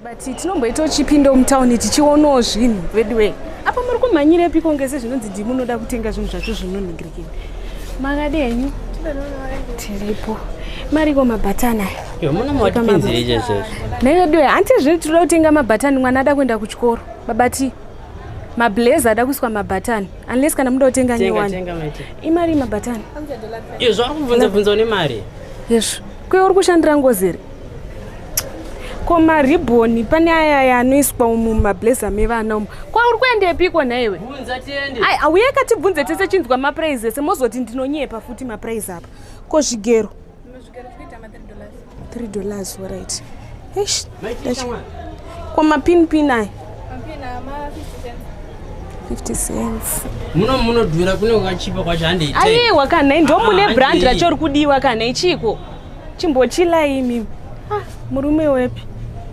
but tinomboitawo chipindo mutown tichionawo zvinhu veduwee apa muri kumhanyirepiko ngese zvinonzi ndi munoda kutenga zvinhu zvacho zvinonhingirikini makadi henyu tiripo mariko mabhatani ayaneveduwe hanti zviri tinoda kutenga mabhatani mwana ada kuenda kuchikoro babati mablaze ada kuiswa mabhatani unless kana muda kutenga nyowani imari yemabhatani iyo zvauri kubvunza bvunza une mari yesvo kuye uri kushandira ngozi here ko maribhoni pane aya aya anoiswa umu mumablazer mevana umu ko uri kuendepiko nhaiwe ai auye katibvunze tese chinzwa mapuraizi ese mozoti ndinonyepa futi mapuraizi apa ko zvigero 3 dollars right eish kwa mapin pin aya 50 cents muno munodhura kune wakachipa kwacho hande aiwa kana ndo mune ah, brand racho rikudiwa kana ichiko chimbochila imi ah, murume wepi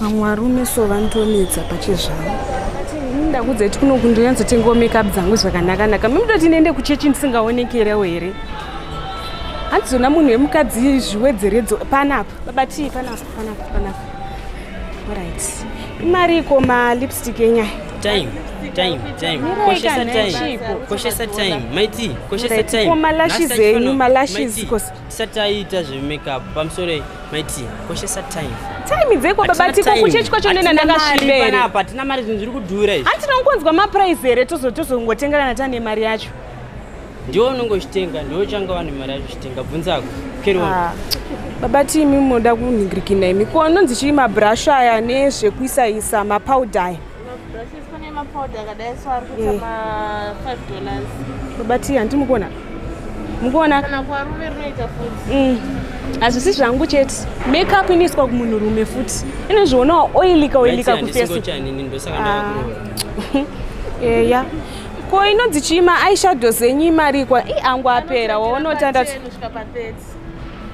vamwe varume so vanotonetsa pachezvavo ndakudzati kuno kundonyatsotengawo makeup dzangu zvakanakanaka mimutoti ndiende kuchechi ndisingaonekerewo here handizona munhu wemukadzi zviwedzeredzo panapa babatii panapa panapa panapa orit imari iko malipstick enyaya time time time koshesa time koshesa time maiti koshesa time malashes enyu malashes tisati taita zvemakeup pamusoro maiti koshesa time time dzeko baba tiko kuchechi kwacho nena ndakasvibereapa hatina mari zvinhu zviri kudhura izvi hanti tinongonzwa maprice here tozongotengerana tane mari yacho ndiwo unonge uchitenga ndiwo uchanga wane mari yacho uchitenga bvunzako keriwa ah, baba tiimi munoda kunhingirikina imi ko anonzi chii mabrush aya nezvekuisaisa mapowder aya Kune mapowder akadai so ari kuita ma 5 dollars. Babati hanti mukuona? Mukuona? Kana kwarume rinoita futi. Mm. Hazvisi zvangu chete. Makeup inoiswa kumunhu rume futi. Inozvionawo oilika oilika kufesi. Ah. Eya. Ko inonzi chima eyeshadow zenyu imarikwa. I angu apera waona utandatu.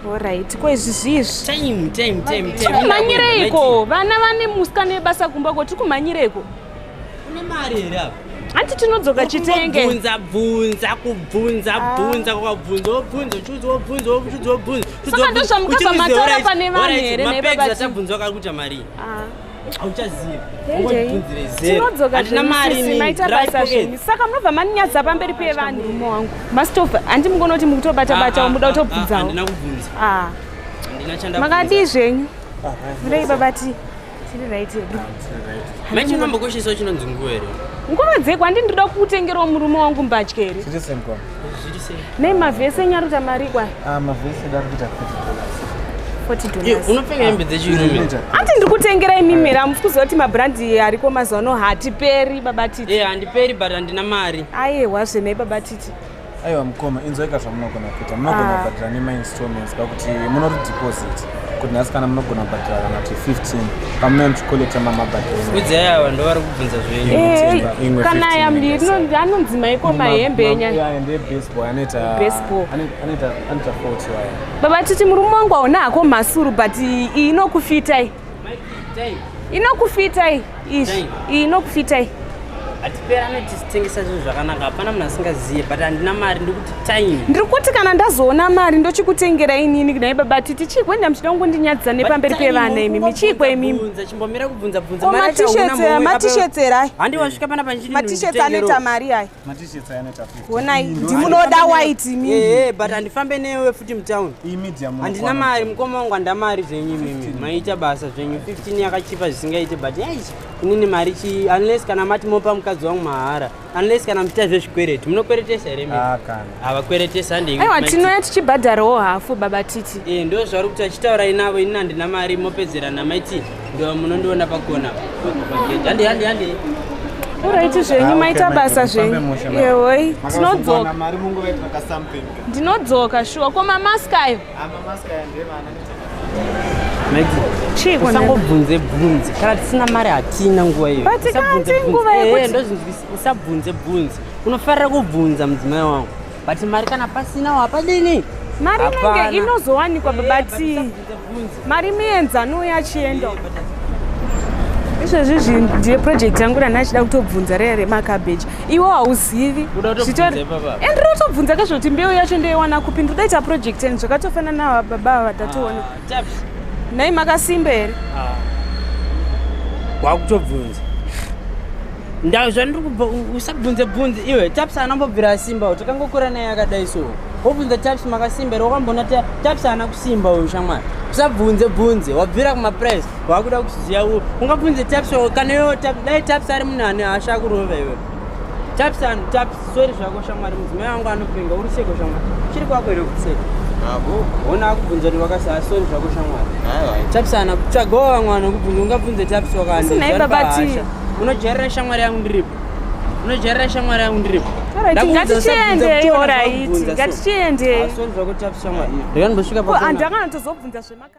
Alright, ko izvi zvizvi. Time, time, time, time. Kumanyireko, vana vane muska nebasa kumba ko tikumanyireko. Une mari here apa? Hanti tinodzoka chitenge. Bvunza bvunza kubvunza ah. bvunza kwakabvunza wobvunza uchudza wobvunza uchudza wobvunza. Saka ndozvamuka pamatara pane vanhu here nebaba. Mapedza tabvunza kari kuita mari. Ah. hauchazivi tinodzoka maita basa zvenyu saka munobva maninyadza pamberi pevanhu murume wangu mastova handi mukona kuti mukutobata bata ah, ah, muda ah, kutobvunzawo makadii zvenyu murei babati tiri right hedu maichinombokoshesa chinonzi nguva here nguva dzeko handi ndinoda kukutengerawo murume wangu mbatya here Nei mavhesi enyu ari kuita mari kwai? Ah, mavhesi edu ari kuita 40 dollars. Eh, unopfeka hembe dzechirume. Ati ndiri kutengera imi mira musi kuziva kuti mabrandi ariko mazuva ano hatiperi baba titi. Eh, handiperi but handina mari. Aiwa zvenei baba titi. Aiwa mukoma inzwaika zvamunogona kuita munogona ah. kubhadhira nemainstallments pakuti munori deposit. kuti nhasi kana munogona kubhadhara kana kuti 15 pamunoyamchikolekta mamabhadharakudzaya vanhu vari kubvunza zvenyekana eh, yambiri anonzi maiko mahembe enyababa titi murume wangu hauna hako mhasuru but inokufitai inokufitai Izvi iyi nokufita iyi. Hatiperane tichitengesa zvinhu zvakanaka hapana munhu asingazive but handina mari ndikuti time. Ndiri kuti kana ndazoona mari ndochikutengera inini kudai baba titi chikwe nda muchida kungondinyadzisa nepamberi pevana imi michikwe imimi. Chimbomira kubvunza bvunza mari yacho hauna mari. Matishetsera. Handi wasvika panapa ndichiti. Matishetsera anoita mari ayi. Matishirts aya anoita 50. Honai, Ndo- ndi- Munoda white imi. Eh, but handifambe newe futi mutown Iyi medium handina unokwana. mari mukoma wangu handa mari zvenyu imimi maita basa zvenyu 15 yakachipa zvisingaite but yaichi inini mari chi unless kana mati mopa mukadzi wangu mahara unless kana muchita zvezvikwereti munokweretesa here mimi Ah, kana. havakweretesa ndeiwa tinouya tichibhadharawo hafu baba titi e, ndo zvauri kuti achitaurai navo ini handina mari mopedzera namaiti ndo munondiona pakona hande hande hande uraiti zvenyu ah, maita basa zvenyu yehoi tinodzoka ndinodzoka shuwa ko mamaska ayo usangobvunze bvunzi kana tisina mari hatina nguva iyousabvunze bvunzi unofarira kubvunza mudzimai wangu but mari kana pasinawo hapadini mari inenge inozowanikwa babati eh, mari mienzano yachienda izvezvi zvinhu ndiye project yangu rana achida kutobvunza raya remakabeji iwo hauzivi and rotobvunza kezvekuti mbeu yacho ndoiwana kupi ndodaita project and zvakatofanana baba vatatoona ah. Nei makasimba here? Ah. Wakutobvunza. Ndau zvandiri kubva usabvunze bvunze iwe Taps anambobvira asimba takangokura naye akadai so. Wobvunza Taps makasimba here wakamboona Taps ana kusimba uyu shamwari. Usabvunze bvunze wabvira kuma press wakuda kuziya ungabvunze Taps kana iwe dai Taps ari munhu ane hasha kurova iwe. Taps and taps, sorry zvako shamwari mudzimai wangu anopenga uri seko shamwari. Chiri kwako ino kuseka. Abo. Ona akubvunza ni wakasaya sorry zvako shamwari. Hayi. Taps ana kutsvagawo vamwe vanokubvunza ungabvunze taps wakani. Sina ipa bati. Unojairira shamwari yangu ndiripo. Unojairira shamwari yangu ndiripo. Ngatichiende iyo oraiti. Ngatichiende. Sorry zvako taps shamwari. Ndikandosvika pa. Andanga anatozobvunza zvemaka.